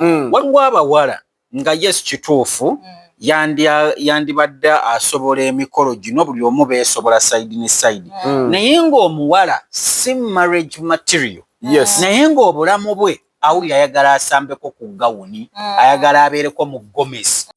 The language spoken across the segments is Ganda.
mm. waliwo abawala nga yes kituufu mm. yandibadde asobola emikolo gino buli omu beesobola side ne side mm. mm. naye ng'omuwala si marriage material yes. naye ng'obulamu bwe awulira ayagala asambeko ku gawuni mm. ayagala abeereko mu gomesi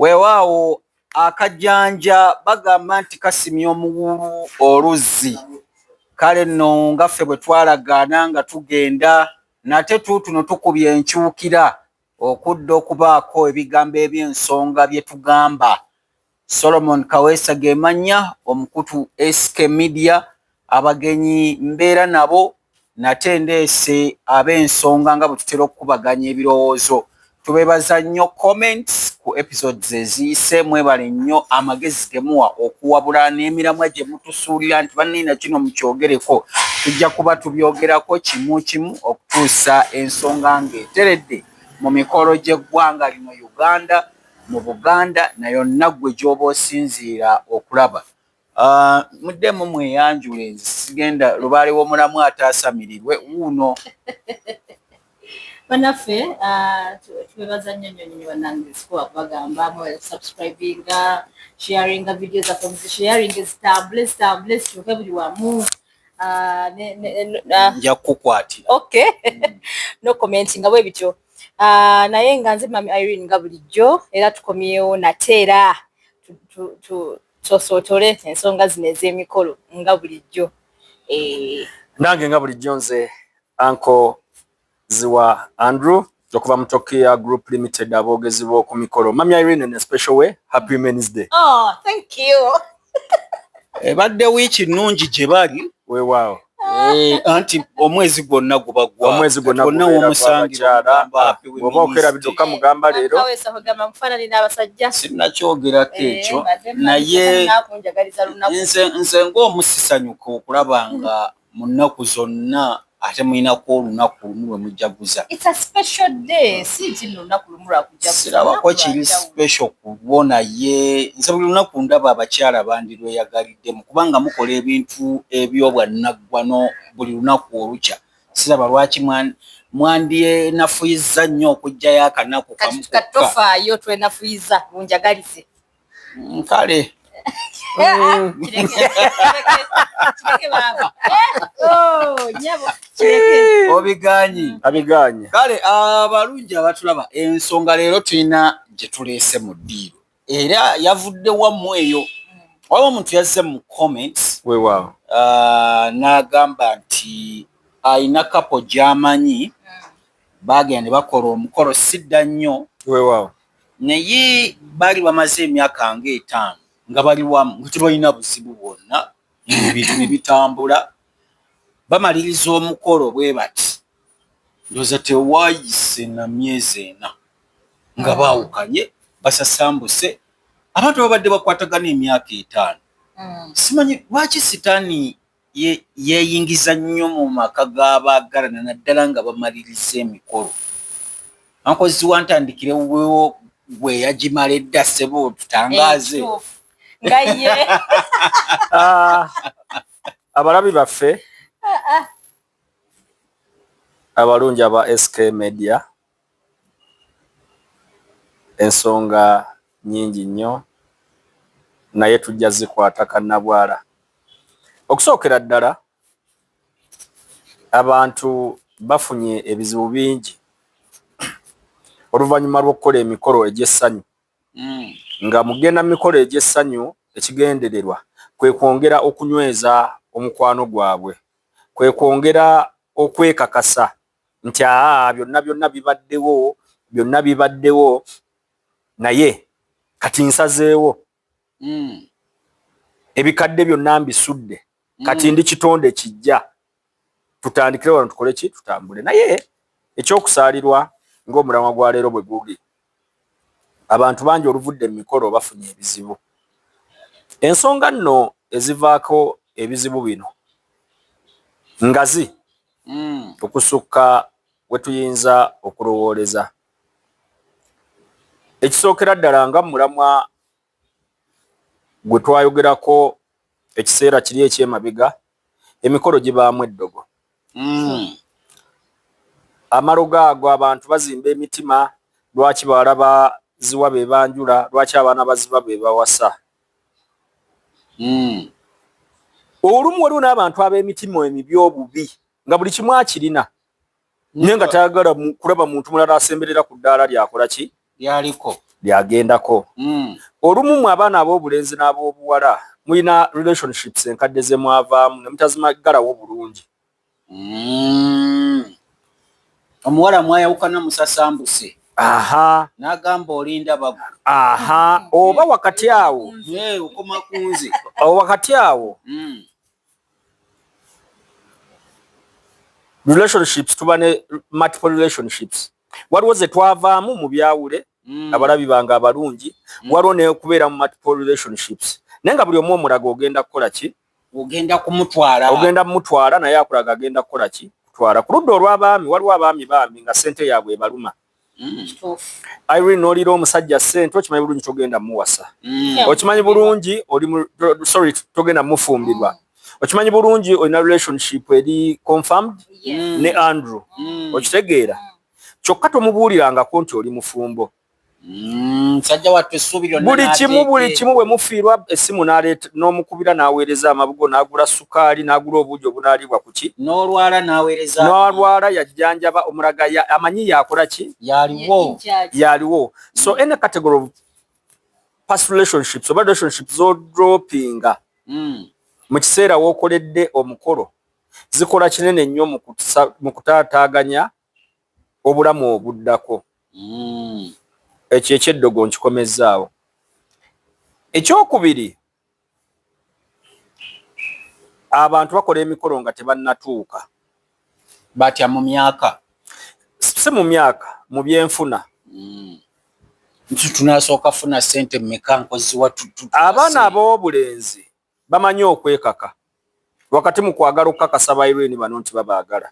Weewaawo akajanja bagamba nti kasimya omuwuulu oluzzi kale nno nga ffe bwe twalagaana nga tugenda nate tuutuno tukubye enkyukira okudda okubaako ebigambo eby'ensonga bye tugamba. Solomon Kaweesa ge mannya, omukutu SK Media. Abagenyi mbeera nabo nate ndeese ab'ensonga nga bwe tutera okukubaganya ebirowoozo. Tubeebaza nnyo comments ku episodes eziyise. Mwebale nnyo amagezi ge muwa okuwabula n'emiramwa gye mutusuulira nti banne na kino mukyogereko. Tujja kuba tubyogerako kimu kimu okutuusa ensonga ng'eteredde mu mikolo gy'eggwanga lino Uganda, mu Buganda na yonna ggwe gy'oba osinziira okulaba. Ah, muddemu mweyanjule nze sigenda lubaale w'omulamu ataasamirirwe wuuno banaffe ah, tubebaza nnyo nnyo nnyo banange sikuwa kubagamba mwebale kusubscribinga sharinga video zaffe muzisharinge zitambule zitambule zituuke buli wamu ah, nja kukukwatira okay hmm. no comment nga bwe bityo naye nga nze mami irene nga bulijjo era tukomyewo nate era Tosootole ensonga zino ez'emikolo nga bulijjo. Eh. Nange nga bulijjo nze anko ziwa Andrew okuva mu Tokia Group Limited aboogezi b'oku mikolo. Mami Irene in a special way, happy women's day. Oh, thank you. Ebadde wiiki nnungi gye bali. Weewaawo. Eh, anti omwezi gwonna guba gwomwezi gwonna womusangioba okera biduka mugamba leero sinakyogerako eh, ekyo naye nze ngaomusisanyuka okulaba nga mu nnaku zonna ate mulinako olunaku lumu lwe mujaguza sirabako kiri special kulwo naye nze buli lunaku ndaba abakyala bandirweyagalira bw'obuliddemu kubanga mukola ebintu eby'obwannaggwano buli lunaku olukya. Siraba lwaki mwandyenafuyizza nnyo okuggyayo akanaku kamu kokka. Kati tofaayo twenafuyiza munjagalize. Mm, kale. obiganyi abiganyi kale abalungi abatulaba ensonga leero tulina gye tuleese mu ddiiro era yavudde wamu eyo waliwo omuntu yazze mu comments wewaawo uh, n'agamba nti alina kapo gy'amanyi baagenda ne bakola omukolo sidda nnyo wewaawo naye baali bamaze emyaka nga etaano nga bali wamu nga tebalina buzibu bwonna ebintu ne bitambula bamaliriza omukolo bwe bati Ndowooza tewaayise na myezi ena nga baawukanye, basasambuse, abantu babadde bakwatagana emyaka etaano. Simanyi lwaki sitaani yeeyingiza nnyo mu maka g'abaagalana naddala nga bamaliriza emikolo. Ankozi wa ntandikire wuwewo gwe yagimala edda ssebo tutangaaze. Nga ye. Ah, abalabi baffe. Ah, ah. Abalungi aba SK media ensonga nnyingi nnyo naye tujja zikwata kannabwala. Okusookera ddala abantu bafunye ebizibu bingi oluvannyuma lw'okukola emikolo egy'essanyu hmm. nga mu kugenda mu mikolo egy'essanyu ekigendererwa kwe kwongera okunyweza omukwano gwabwe kwe kwongera okwekakasa nti aa byonna byonna bibaddewo byonna bibaddewo naye kati nsazeewo mm. ebikadde byonna mbisudde mm. kati ndi kitonde kijja tutandikire wano tukole ki tutambule naye ekyokusaalirwa ng'omulamwa gwa leero bwe guli abantu bangi oluvudde mu mikolo bafunye ebizibu. Ensonga nno ezivaako ebizibu bino ngazi mm. okusukka we tuyinza okulowooleza. Ekisookera ddala nga mulamwa gwe twayogerako ekiseera kiri ekyemabega emikolo gibaamu eddogo mm. amalogo ago abantu bazimba emitima lwaki bawala baziwa be banjula lwaki abaana baziba be bawasa mm. olumu waliwo n'abantu ab'emitima emibi obubi nga buli kimu akirina naye nga tayagala kulaba muntu mulala asemberera ku ddaala lyakola ki lyaliko lyagendako hmm. olumu mu abaana ab'obulenzi n'ab'obuwala mulina relationships enkadde ze mwavaamu ne mutazimagalawo bulungi hmm. omuwala mwayawukana musasambuse aha nagamba olinda bagu aha oba wakati awo okoma kunze wakati awo hmm. relationships tuba ne multiple relationships waliwo ze twavaamu mu byawule mm. abalabi bange abalungi mm. waliwo nekubeera mu multiple relationships naye nga buli omu omulaga ogenda kukola ki ogenda kumutwala ogenda mumutwala naye akulaga agenda kukola ki kutwala ku ludda olw'abaami waliwo abaami baami nga sente yaabwe ebaluma mm. Mm. Irene nolira omusajja sente okimanyi bulungi togenda muwasa mm. okimanyi bulungi oli sorry togenda mufumbirwa okimanyi bulungi olina relationship eri confirmed mm. ne Andrew mm. okitegeera mm. kyokka tomubuulirangako nti oli mufumbo mm, buli kimu buli kimu bwe mufiirwa essimu n'aleeta n'omukubira n'aweereza amabugo n'agula su kaali n'agula obuugi obunaaliibwa ku ki n'olwala n'aweereza n'olwala yajjanjaba omulaga amanyi yakola ki yaliwo yaliwo so mm. any category of past relationships oba relationships zodropinga mm. mu kiseera w'okoledde omukolo zikola kinene nnyo mu kutaataaganya obulamu obuddako mm. ekyo ekyeddogo nkikomezzaawo ekyokubiri abantu bakola emikolo nga tebannatuuka batya mu myaka si mu myaka mu byenfuna mm. nti tunasooka funa sente mumeka nkoziwa abaana ab'obulenzi bamanyi okwekaka wakati mu kwagala okukakasa baireni bano nti babaagala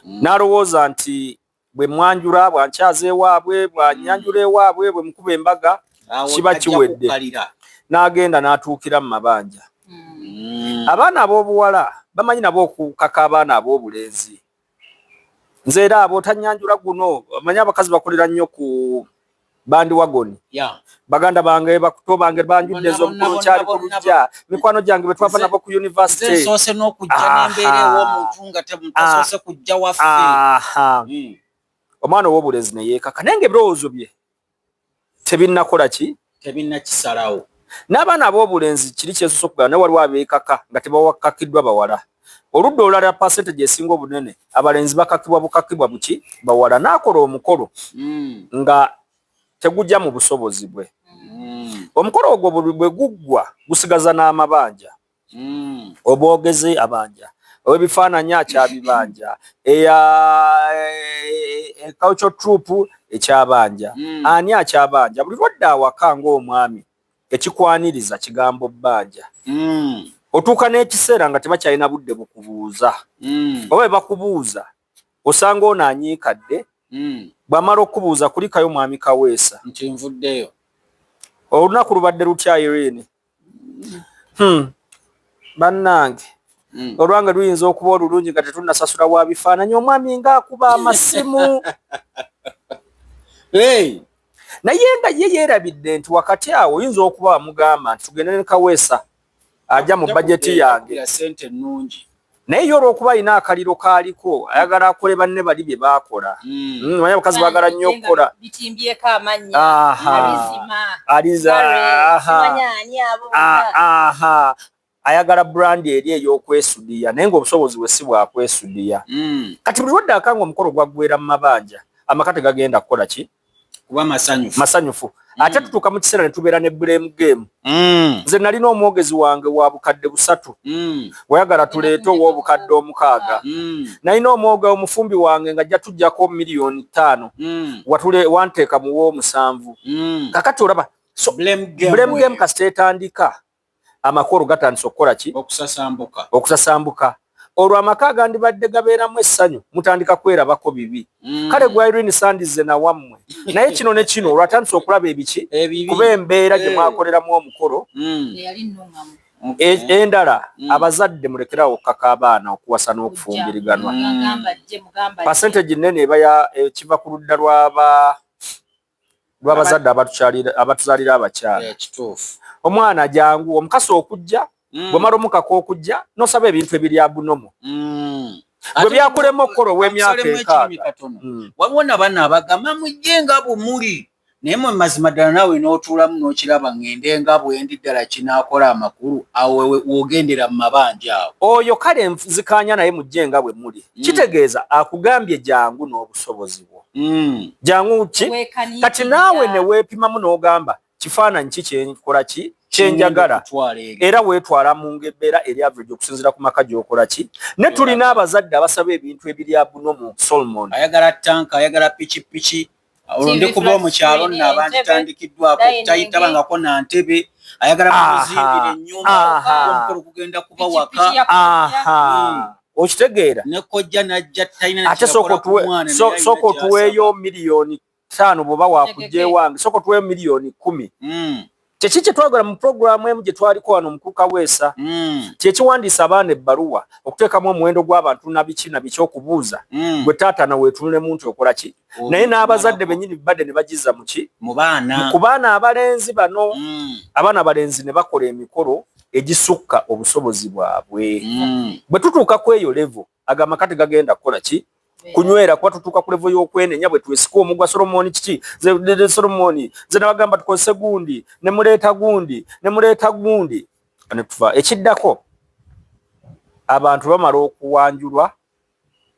mm. n'alowooza nti bwe mwanjula bwankyaza ewaabwe bwanyanjula ewaabwe bwe mukuba embaga kiba kiwedde n'agenda n'atuukira mu mabanja mm. abaana ab'obuwala bamanyi nabo okukaka abaana ab'obulenzi nze era abo tanyanjula guno manyi abakazi bakolera nnyo ku bandi wagoni yeah. baganda bange bakuto bange banjudde ez'omukulu kyali ku lujja mikwano gyange be twava nabo ku university soose n'okujja n'embeera ew'omuntu nga temutasose kujja waffe hmm. omwana ow'obulezi ne yeekaka naye nga ebirowoozo bye tebinnakola ki tebinnakisalawo n'abaana ab'obulenzi kiri kyesosa okugala naye waliwo abeekaka nga tebawakkakiddwa bawala Oludda olulala percentage esinga obunene abalenzi bakakibwa bukakibwa buki bawala nakola omukolo mm. nga tegujja mu busobozi bwe mm. omukolo ogwo bwe guggwa gusigaza n'amabanja mm. obwogezi abanja owebifaananyi akyabibanja eya ekauco e, e, e, troop ekyabanja mm. ani akyabanja buli lwadde awaka ngaomwami Ekikwaniriza kigambo bbanja. Otuuka n'ekiseera nga tebakyalina budde bukubuuza oba bwe bakubuuza osanga ono anyiikadde, bw'amala okukubuuza kulikayo Mwami Kaweesa. Nti nvuddeyo. Olunaku lubadde lutya Irene? Hum, bannange olwange luyinza okuba olulungi nga tetunnasasula wa bifaananyi omwami ng'akuba amasimu. Hey! naye nga ye yeerabidde nti wakati awo oyinza okuba wamugamba nti tugende ne kaweesa aja mu bajeti yange sente ennungi naye ye olwokuba alina akaliro kaaliko ayagala akole banne bali bye baakola hmm. Hmm, manya abakazi baagala nnyo okukola bitimbyeko amannya alizima aliza aha aha ayagala brand eri eyokwesudiya naye nga obusobozi bwe si bwakwesudiya mm. kati buli waddaka nga omukolo gwaggwera mu mabanja amaka tegagenda kukola ki kuba masanyufu masanyufu mm. ate tutuuka mu kiseera ne tubeera ne blame game mm. nze nalina omwogezi wange wa bukadde busatu mm. wayagala tuleete ow'obukadde omukaaga mm. nalina omwoga omufumbi wange nga jja tujjako miliyoni ttaano mm. watule wanteeka muw'omusanvu mm. kakati olaba so, blame game, game kasita etandika amakulu gatandise okukola ki? Okusasambuka. Okusasambuka. Olwo amaka agandibadde gabeeramu essanyu mutandika kwerabako bibi. Mm. Kale gwa Irene Sandize na wammwe. Naye kino ne kino olwo atandise okulaba ebiki? Ebibi. Kuba embeera gye eh. mwakoleramu omukolo. Mm. Eyali nnungamu. E, endala mm. abazadde mulekerawo okukaka abaana okuwasa n'okufumbiriganwa. Percentage nnene eba ya ekiva eh, ku ludda lw'aba lwabazadde abatuzalira abakyala eh, kituufu omwana jangu omukasa okujja mm. bwemala omukaka okujja nosaba ebintu ebiri abunomo mm. gwe byakulema okukola ow'emyaka enkaaga mm. waliwo nabaana abagamba mujje nga bumuli naye mwe mazima ddala naawe n'otuulamu n'okiraba ng'ende nga bwendi ddala kinaakola amakulu awo wogendera mu mabanja awo oyo kale nzikaanya naye mujje nga bwe muli kitegeeza akugambye jangu n'obusobozi ogwo mm. jangu ki kati naawe neweepimamu n'ogamba kifaananyi ki kyenkola ki kyenjagala era weetwala mu ngebbeera eri average okusinzira ku maka gy'okola ki ne tulina abazadde abasaba ebintu ebiri abuno mu solomon ayagala tanka ayagala pikipiki olwo ndi kuba omukyalo nno abanditandikiddwako tayitabangako na ntebe ayagala mukuzimbira ennyumba omukolo kugenda kuba waka hmm. okitegeera ate sooka otuweeyo miliyoni taano bwoba wakujja ewange sooka otuweeyo miliyoni kumi hmm. kyeki kyetwagala mu puroguramu emu gyetwaliko wano omukuuka weesa hmm. kyekiwandiisa abaana ebbaluwa okuteekamu omuwendo gw'abantu nabiki nabiki okubuuza hmm. gwe taata naweetunulemu nti okola ki oh, naye n'abazadde benyini bibadde ne bagiza muki ku baana abalenzi bano abaana abalenzi ne bakola emikolo egisukka obusobozi bwabwe mm. bwe tutuuka ku eyo levo ago amaka tegagenda kukola ki kunywera kuba tutuuka ku levo y'okwenenya bwe twesika omugwa solomoni kiki solomoni nze nabagamba tukozese gundi ne muleeta gundi ne muleeta gundi ne tuva ekiddako abantu bamala okuwanjulwa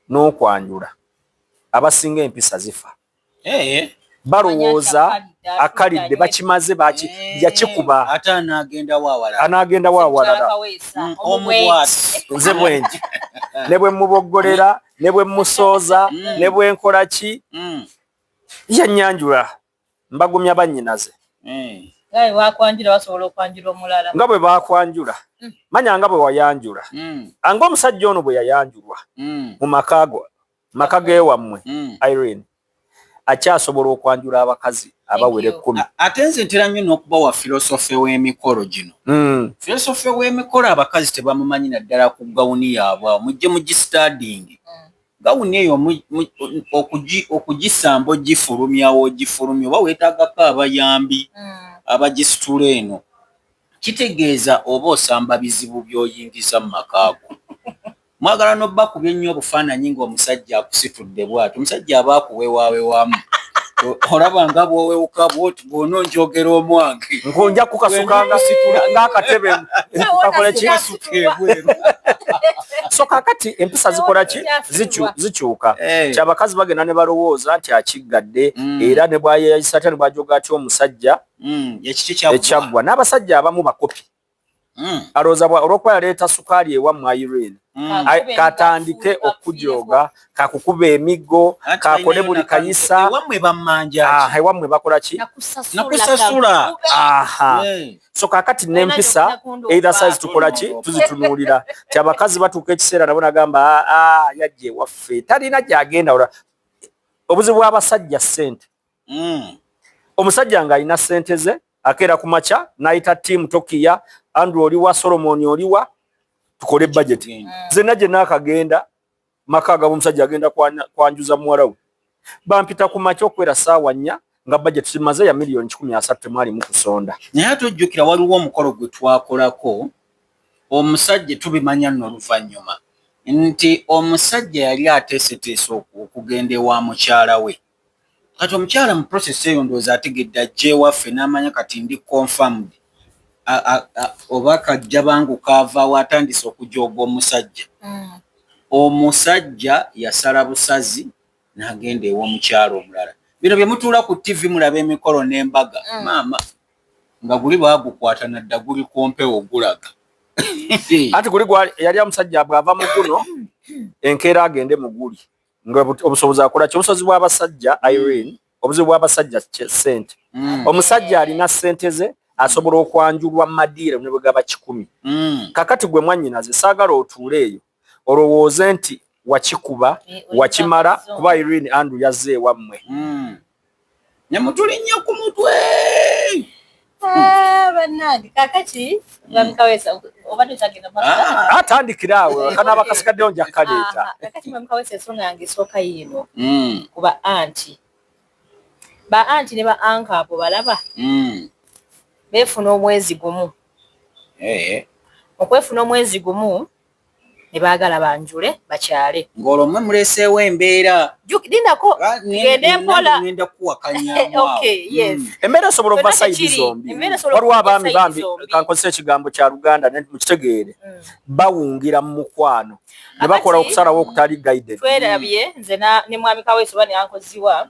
n'okwanjula abasinga empisa zifa eh. balowooza akalidde bakimaze eh. yakikuba ate anaagendawo awalala mm, nze bwengi ne bwe muboggolera ne bwe musooza mm. ne bwe nkola ki mm. yanyanjula mbagumya bannyinaze eh. nga bwe bakwanjula mm. manya nga bwe wayanjula mm. anga omusajja ono bwe yayanjulwa mm. mu maka go maka gewammwe mm. irene akyasobola okwanjula abakazi abawera ekkumi ate nze ntera nnyo n'okuba wa filosofe w'emikolo gino mm. filosofe w'emikolo abakazi tebamumanyi naddala ku gawuni yaabwe awo mujje mugistadingi mm. gawuni eyo okugisamba ogifulumyawo ogifulumya oba weetagako abayambi mm. abagisitula eno kitegeeza oba osamba bizibu by'oyingiza mu makaago Mwagala nobakubye nnyo obufaananyi ng'omusajja akusitudde bwati omusajja aba akuwewawewamu olaba nga bwowewuka bwoti bwona onjogera omwange ngonja kukasuka nga situla ngaakatebe kakolaki so kakati empisa zikolaki zikyuka eh. kyabakazi bagenda ne balowooza nti akiggadde mm. era ne bwayeyayisa atya ne bwajoga atya omusajja mm. ekyaggwa n'abasajja abamu bakopi Mm. alowooza olwokuba yaleeta sukaali ewammwe irene mm. katandike okujooga kakukuba emiggo kakole buli kayisa ewammwe bakola ki nakusasula so kakati nempisa either size tukola ki tuzitunuulira ti abakazi batuuka ekiseera nabo nagamba aa ah, ah, yajja ewaffe talina gyagenda obuzibu bw'abasajja ssente mm. omusajja nga alina sente ze akeera ku makya nayita tiimu tokiya andrew oliwa solomoni oliwa tukole bajeti mm. zena gyenaakagenda maka agaba omusajja agenda kwanjuza muwala we bampita ku makya okubeera saawa nnya nga bajeti zimaze ya miliyoni kikumi asatu temwalimu kusonda naye ate ojjukira waliwo omukolo gwe twakolako omusajja tubimanya nno oluvannyuma nti omusajja yali ateeseteese okugenda ewa mukyala we kati omukyala mu process eyo ndowooza ategedde ajja ewaffe n'amanya kati ndi confirmed oba kajja bangu kaavaawo atandise okujooga omusajja mm. omusajja yasala busazi n'agenda ew'omukyala omulala bino bye mutuula ku ttivi mulaba emikolo n'embaga mm. maama nga guli baagukwata nadda guli ku mpewo gulaga anti guli yali amusajja bw'ava mu guno enkeera agende mu guli obusobozi akola ki obusobozi bw'abasajja mm. irene obuzibu bw'abasajja sente mm. omusajja alina sente ze asobola okwanjulwa mu madiiro ne bwe gaba kikumi mm. kakati gwe mwannyinaze saagala otuule eyo olowooze nti wakikuba eh, wakimala kuba irene andrew yazze ewammwe ne mutuli nnyo ku mutwe ah, bannange kakati bamukawesa obadde otagenda ah, atandikira awo kanaaba kasikaddeyo nja kukaleeta ah, kakati bamukawesa ensonga yange esooka yiino hmm. kuba anti ba anti ne ba anka abo balaba hmm. beefuna omwezi gumu eh. okwefuna omwezi gumu ne baagala banjule bakyale. Ng'olwo mmwe muleeseewo embeera. Jjuki- Lindako Ah, ne- tugende nange mpola. ŋŋenda kukuwakanyamu awo. Okay, yes. Mm. embeera esobola okuba Kyonna sayidi tekiri. zombi Embeera esobola waliwo okuba abaami sayidi bambi zombi. kankozesa ekigambo kya luganda ne- mukitegeere Mm. bawungira mu mukwano ne Kakati- bakola okusalawo okutali guided twerabye nze na- ne mwami kaweesi oba neyankoziwa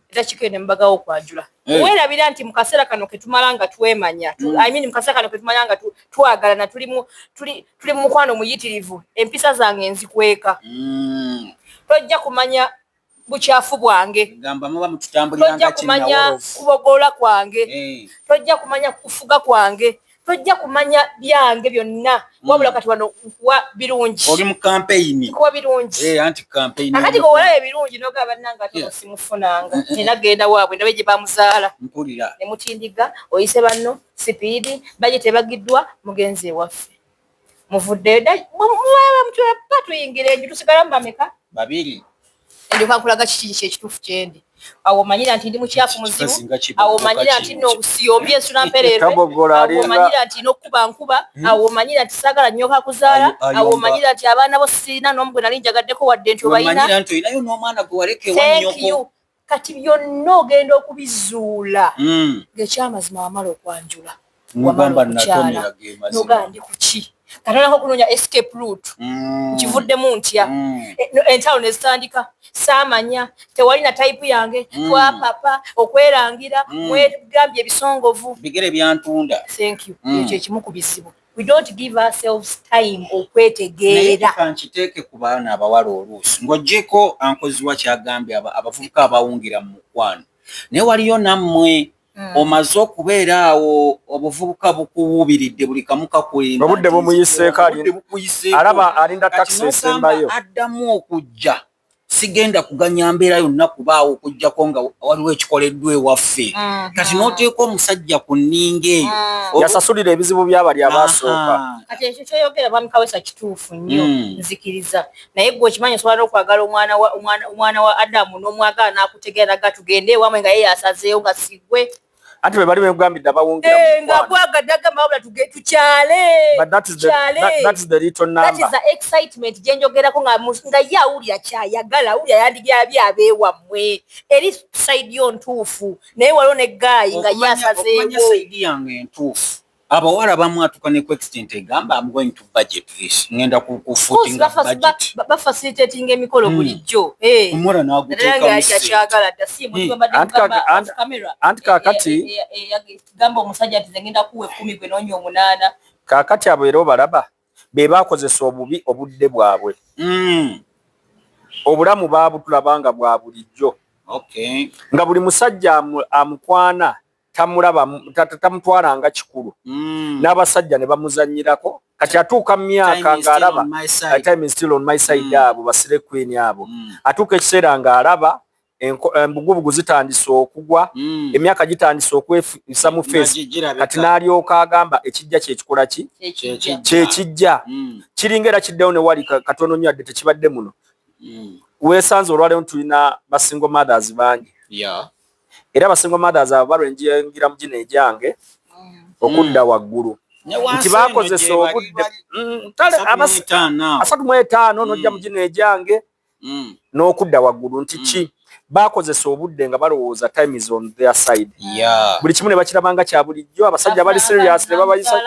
era kigenda mubagawo okwajula hey. Eh. werabira nti mukaseera kano ketumala nga twemanya mm. I mean, mukaseera kano ketumanya nga twagalana tuli mu tuli, tuli mukwano muyitirivu empisa zange nzikweka mm. tojja kumanya bukyafu bwange tojja kumanya kubogola kwange hey. Eh. tojja kumanya kufuga kwange tojja kumanya byange byonna hmm. wabula kati wano nkuwa birungi oli mu kampeyini nkuwa birungi eh, anti kampeyini akati gowala ebirungi noga bannanga ate eh. simufunanga eh, nina genda waabwe ndabe gye bamuzaala mpulira ne mutindiga oyise banno sipiidi bajeti ebagiddwa mugenzi ewaffe muvuddeyo muwebamutwera pa tuyingira enju tusigalamu bameka babiri ndyoka nkulaga kiki kiki ekituufu kyendi awo omanyira nti ndi mukyafu muzibu awo omanyira nti nobusiyombye ensula mpereerwe awo omanyira nti nokukuba nkuba hmm? awo omanyira nti saagala nyoka kuzaala awo omanyira nti abaana bo sirina n'omu gwe nali njagaddeko wadde nti obayina kati byonna ogenda okubizuula hmm. ng'ekyamazima wamala okwanjula wamala okukyala noga ndi kuki katonako okunoonya escape root hmm. nkivuddemu ntya hmm. eh, entalo ne zitandika saamanya tewali na tayipu yange twapapa okwerangira mwegambye ebisongovu bigere byantunda ekyo ekimu ku bizibu we don't give ourselves time okwetegeera nkiteeke ku baana abawala oluusi ng'ogyeko ankoziwa kyagambye abavubuka abawungira mu mukwano naye waliyo nammwe hmm. omaze okubeera awo obuvubuka bukuwuubiridde buli kamu kakulindaobudde bumuyiseeko alaba alinda takisi esembayo addamu okujja sigenda kuganya mbeera yonna kubaawo okujjako nga waliwo ekikoleddwa ewaffe mhm. kati n'oteeka omusajja ku nninga eyo mhm. yasasulira ebizibu byabali abaasooka kati ekyo kyoyogera mwami kawesa kituufu nnyo mm. nzikiriza naye gwe okimanyi osobola n'okwagala omwana wa adamu n'omwagala n'akutegeera naga tugende ewamwe nga ye yasazeewo nga sigwe Ati bwe bali bengambidde abawungira mu eh, nga bwagadde agamba wabula tuge tukyale tukyale that is the little number that is the excitement gye njogerako nga nga ye awulira kyayagala awulira yandibyabye abeewammwe eri sayidi yo ntuufu naye waliwo ne gaayi nga ye asazeewo sayidi yange ntuufu abawala bamwatuka ne extent egamba am going to budget this ngenda ku ku footing ba budget ba facilitating emikolo hmm. bulijjo eh omora na guteka musajja kyagala da si mu bamba de camera anti kakati eh, eh, eh, gamba omusajja ati ngenda kuwe 10 gwe nonyo munana kakati abo ero balaba be bakozesa obubi obudde bwabwe mm obulamu baabutulabanga bwa bulijjo okay nga buli musajja amukwana tamulaba tamutwala nga kikulu mm. n'abasajja ne bamuzanyirako kati atuuka mu myaka ng'alaba time still on my side mm. abo basire queen abo mm. atuuka ekiseera ng'alaba embugubugu eh, zitandise okugwa mm. emyaka gitandise okwefisa mu feesi kati n'alyoka agamba ekijja kyekikola ki kyekijja mm. kiringa era kiddewo ne wali katono nnyo adde tekibadde muno mm. weesanze olwaleero tulina basingle mothers bangi yeah. era abasingo mothers abo balwa enjingira mu gino egyange okudda waggulu nti bakozesa obudde mm, kale asatu mu etaano nojja mm. mu gino egyange mm. n'okudda waggulu nti ki bakozesa obudde nga balowooza time is on their side buli kimu ne bakirabanga kya bulijjo abasajja bali serious ne babayisa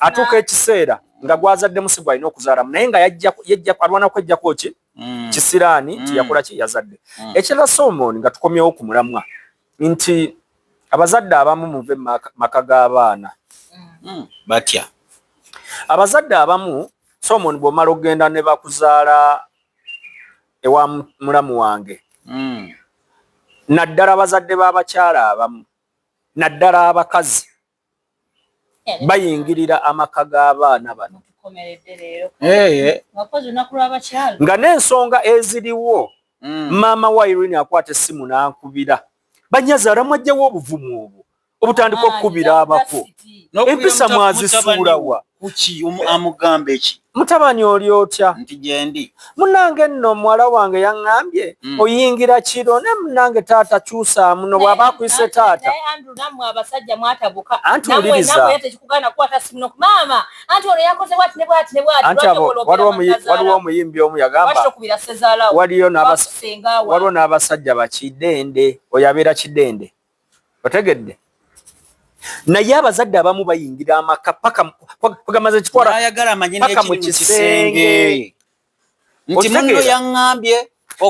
atuuka ekiseera nga gwazaddemu si gwalina okuzaalamu naye nga yajja alwana kwejjako ki mm. kisiraani nti mm. yakola kye yazadde mm. ekirala solomon nga tukomyewo ku mulamwa nti abazadde abamu muve maka g'abaana mm. batya abazadde abamu solomon bw'omala okugenda ne bakuzaala ewa mulamu wange mm. naddala abazadde b'abakyala abamu naddala abakazi bayingirira amaka g'abaana bano nga n'ensonga eziriwo mm. maama wa irini akwata essimu n'ankubira banyazi alamwajjawo obuvumu obwo obutandika okukubira abako empisa mwazisuulawa kuki amugamba eki mutabani oli otya nti gyendi munange nno muwala wange yaŋŋambye mm. oyingira kiro ne munange taata kyusaamu no bwaba akuyise taata anti wulirizaantiwaliwo omuyimbi omu yagambawaliwo n'abasajja bakidende oyo abeera kidende otegedde naye abazadde abamu bayingira amaka pakaamaze kitwalapaka mu kisenge nti muno yaŋambye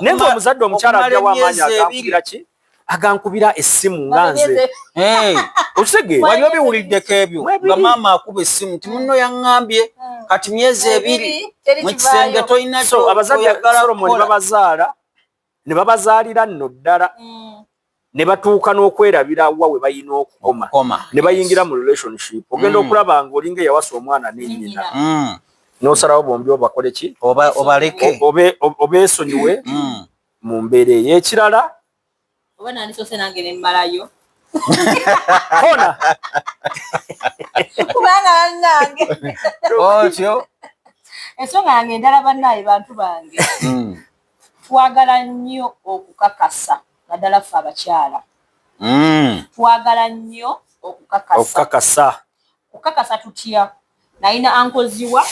naye nga omuzadde omukyala ajawo amaanyi agankubira ki agankubira essimu nga nze okitege wali obiwuliddeko ebyo nga maama akuba essimu nti muno yaŋambye hmm. kati myezi ebiri mu kisenge tolina kyo abazadde solomoni babazaala ne babazaalira nno ddala mm. ne batuuka n'okwerabira wa we balina okukoma ne bayingira mu relationship ogenda mm. okulaba nga olinga eyawasa omwana nenyina mm. nosalawo bombi obakole ki obaleke obesonyiwe mm. mu mbeera eyo ekirala oba nandisose nange nemmalayo kona kubanga banange otyo ensonga yange endala bannaye bantu bange Twagala nnyo okukakasa naddala ffe abakyala mm. twagala nnyo okukakasa. Okukakasa. Okukakasa tutya? Nalina ankoziwa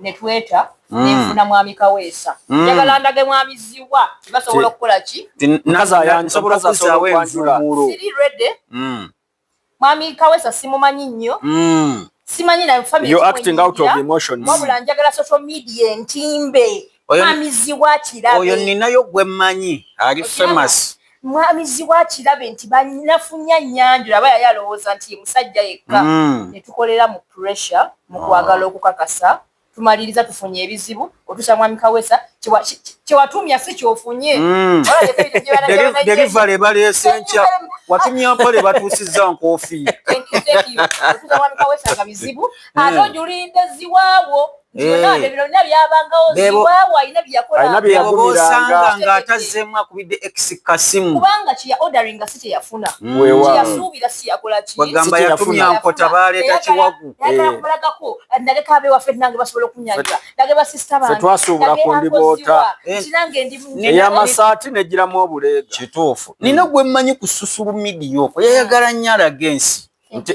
ne tweta mm. ne nfuna mwami Kaweesa. Mm. Njagala ndage mwami Ziwa basobola okukola ki? Naza yansobola kuzaawo envumuulo. Siri ready. Mm. Mwami Kawesa simumanyi nnyo. Mm. Simanyi na family. You're acting out of emotions. Wabula njagala social media entimbe. Mwami Ziwa Kirabe. Oyo ninayo gwe manyi. Ali famous. Mwami Ziwa Kirabe nti banafunya nyanjula baya yalowooza nti musajja yekka. Mm. Netukolera mu pressure mu kwagala okukakasa. Mm. tumaliriza tufunye ebizibu otusa mwami kawesa kyewatuumya si kyofunye mm. delivery baleese nkya watumya mpale batuusizza nkoofiira bizibu ate ojulinda ziwaawo alina byeyagumiranga nga atazeemu akubidde ex kasimu kubanga kyeya ordering nga si kyeyafuna kyeyasuubira mm. siyakola ki bagamba yatumya nkota baleeta kiwagu nagala eh. kubalagako naleka abe waffe nange basobola okunyanyula nage basista bantwasuubula ku ndiboota kinange eh. ndimueyamasaati negiramu obuleega kituufu nina gwe mmanyi ku susulu midiya okwo yayagala nnyo alaga ensi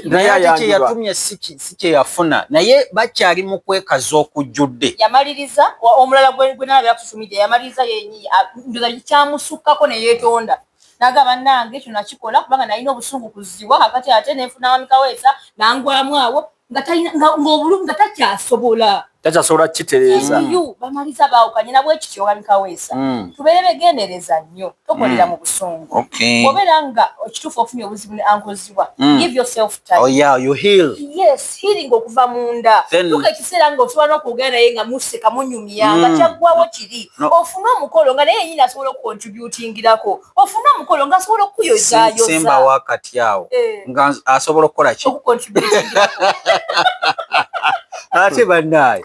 naye kyeyatumye si kyeyafuna naye bakyali mu kwekaza okujjudde yamaliriza omulala gwenalabyakusumidia yamaliriza yenyiyi kyamusukkako neyetonda naga banange kino nakikola kubanga nalina obusungu kuziwa kakati ate nenfuna wami kaweesa nangwamu awo ngaobulumi nga takyasobola takyasobola kitereeza mm. bamaliza baawukanye nabwekityo wami kaweesa mm. tubeere begendereza nnyo tokolera mm. mu busungu obeera nga okituufu ofunye obuzibu ne ankozi okusitulwa mm. give yourself time oh yeah you heal yes healing okuva munda tuka ekiseera nga osobola n'okwogera naye nga museka munyumya nga mm. kyaggwawo kiri ofune omukolo nga naye yenyini asobola okukontributingirako ofune omukolo nga asobola okukuyozayosemba wakati awo eh. nga asobola okukola ki ate bannaye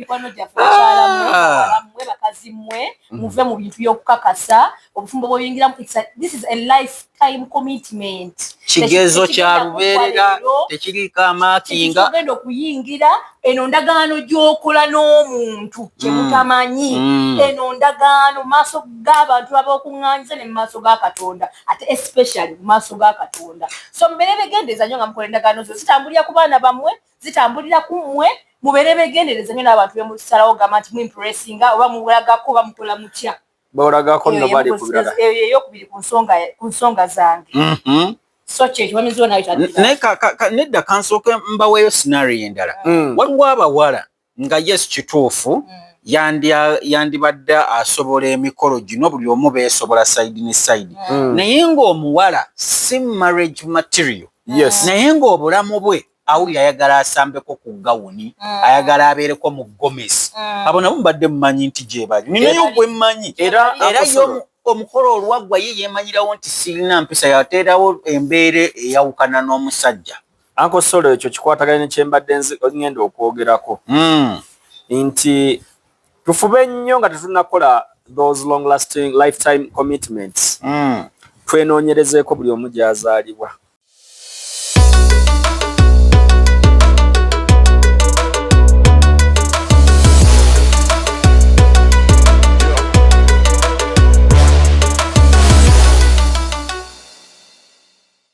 mikwano gyaffe bakyala mwe ah. bawala mwe bakazi mwe mm. muve mu bintu by'okukakasa obufumbo bwoyingiramu this is a lifetime commitment kigezo kya lubeerera tekiriiko amaakinga ogenda okuyingira eno ndagaano gy'okola n'omuntu kye mm. mutamanyi mm. eno ndagaano mu maaso g'abantu babaokuŋŋanyiza ne mu maaso ga katonda ate especially mu maaso ga katonda so mubeere begendeeza nyo nga mukola endagaano zo zitambulira ku baana bammwe zitambulira ku mmwe mubeere begendereza nyo n'abantu bemusalawo gamba nti muimpressinga oba muwulagako oba mukola mutya bawulagako no bali kubirala eyo eyokubiri ku nsonga ku nsonga zange mm-hmm. so kyekyo bamiziwo nayo nedda kansooke mbaweeyo sinario endala mm. waliwo abawala nga yes kituufu mm. yandibadde asobola emikolo gino buli omu beesobola side ne side mm. naye ng'omuwala si marriage material yes. naye ng'obulamu bwe awulira ayagala asambeko ku gawuni mm. ayagala abeereko mu gomesi mm. abo nabo mubadde mumanyi nti gyebali ninayo gwe mmanyi era omukolo olwaggwa ye yeemanyirawo nti sirina mpisa yateerawo embeera eyawukana n'omusajja Uncle Solo ekyo kikwataganye ne kyembadde ngenda okwogerako mm. nti tufube nnyo nga tetunakola those long lasting lifetime commitments mm. twenoonyerezeeko buli omu gyazaalibwa